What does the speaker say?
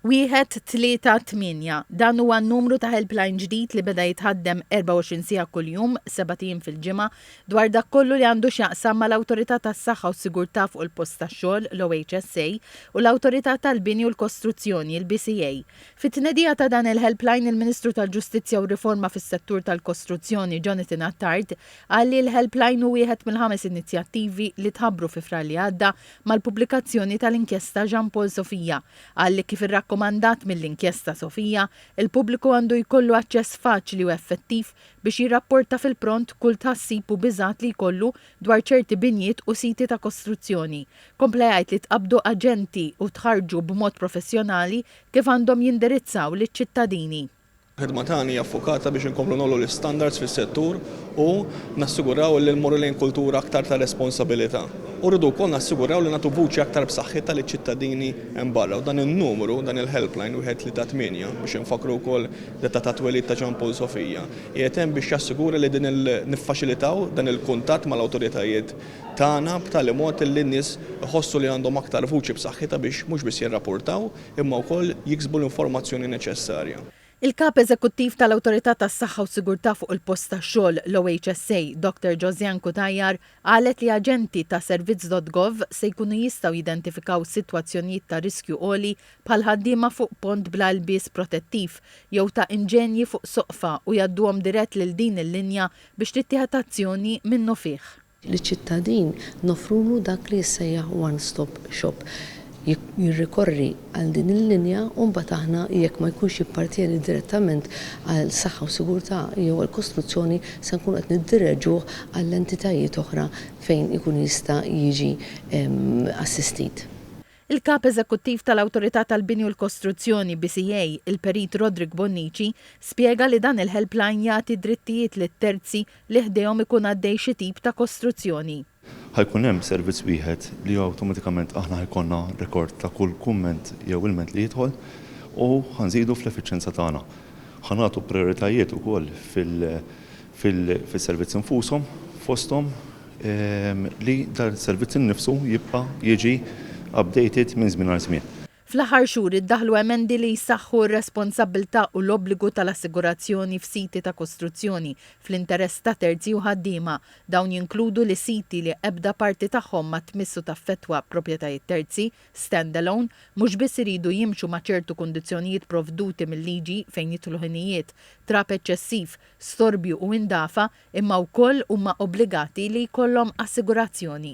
Wieħed, tlieta, tmienja, Dan huwa n-numru ta' helpline ġdid li beda jitħaddem 24 siegħa kuljum, sebat ijiem fil-ġimgħa, dwar dak kollu li għandu x'jaqsam mal-Awtorità tas-Saħħa u s-Sigurtà fuq il-Post tax-Xogħol, l-OHSA, u l-Awtorità tal-Bini u l-Kostruzzjoni, il-BCA. Fit-tnedija ta' dan il-helpline, il-Ministru tal-Ġustizzja u r-Riforma fis-Settur tal-Kostruzzjoni, Jonathan Attard, qal li l-helpline hu wieħed mill-ħames inizjattivi li tħabbru fi Frar li għadda Mal-pubblikazzjoni tal-Inkjesta Jean Paul Sofia, qal li kif irrakkomandat mill-Inkjesta Sofia, il-pubbliku għandu jkollu aċċess faċli u effettiv biex jirrapporta fil-pront kull tħassib u biżgħat li jkollu dwar ċerti binjiet u siti ta' kostruzzjoni. Kompla jgħid li tqabbdu aġenti u tħarrġu b'mod professjonali kif għandhom jindirizzaw liċ-ċittadini. Il-ħidma tagħna hija ffukata biex inkomplu ngħollu l-istandards fis-settur u nassiguraw li mmorru lejn kultura aktar ta' responsabilità. U rridu wkoll nassiguraw li nagħtu vuċi aktar b'saħħitha liċ-ċittadini hemm barra u dan in-numru, dan il-helpline wieħed tlieta tmienja, biex infakkru wkoll d-data tat-twelid ta' Jean Paul Sofia, qiegħed hemm biex jassigura li din il, niffaċilitaw dan il-kuntatt mal-awtoritajiet tagħna b'tali mod li n-nies iħossu li għandhom aktar vuċi b'saħħitha biex mhux biss jirrapurtaw, imma wkoll jiksbu l-informazzjoni neċessarja. Il-Kap Eżekuttiv tal-Awtorità tas-Saħħa u Sigurtà fuq il-Post tax-Xogħol, l-OHSA, Doctor Josiane Cutajar, qalet li aġenti ta' Servizz.Gov se jkunu jistgħu jidentifikaw sitwazzjonijiet ta' riskju għoli bħal ħaddiema fuq pont bla ilbies protettiv jew ta' inġenji fuq soqfa u jgħadduhom dirett lil din il-linja biex tittieħed azzjoni minnufih. liċ-ċittadin noffrulu dak li jissejjaħ one stop shop. Jirrikorri għal din il-linja u mbagħad aħna jekk ma jkunx jappartjeni direttament għal saħħa u sigurtà jew għal kostruzzjoni se nkunu qed niddireġuh għall-entitajiet oħra fejn ikun jista' jiġi assistit. Il-Kap Eżekuttiv tal-Awtorità tal-Bini u l-Kostruzzjoni, BCA, il-Perit Roderick Bonnici, spjega li dan il-helpline jagħti drittijiet lil terzi li ħdejhom ikun għaddej xi tip ta' kostruzzjoni. Ħa jkun hemm servizz wieħed li awtomatikament aħna ħa jkollna rekord ta' kull kumment jew ilment li jidħol u ħa nżidu fl-effiċjenza tagħna. Ħa nagħtu prijoritajiet ukoll fil-servizzi nfushom, fosthom, li dan is-servizz innifsu jibqa' jiġi updated minn żmien għal żmien. Fl-aħħar xhur iddaħħlu emendi li jsaħħu r-responsabbiltà u l-obbligu tal-assigurazzjoni f'siti ta' kostruzzjoni fl-interess ta' terzi u ħaddiema. Dawn jinkludu li siti li ebda parti tagħhom ma tmiss u taffettwa proprjetajiet terzi, stand-alone, mhux biss iridu jimxu ma' ċertu kundizzjonijiet provduti mil-liġi fejn jidħlu ħinijiet, trab eċċessiv, storbju u indafa, imma wkoll huma obbligati li jkollhom assigurazzjoni.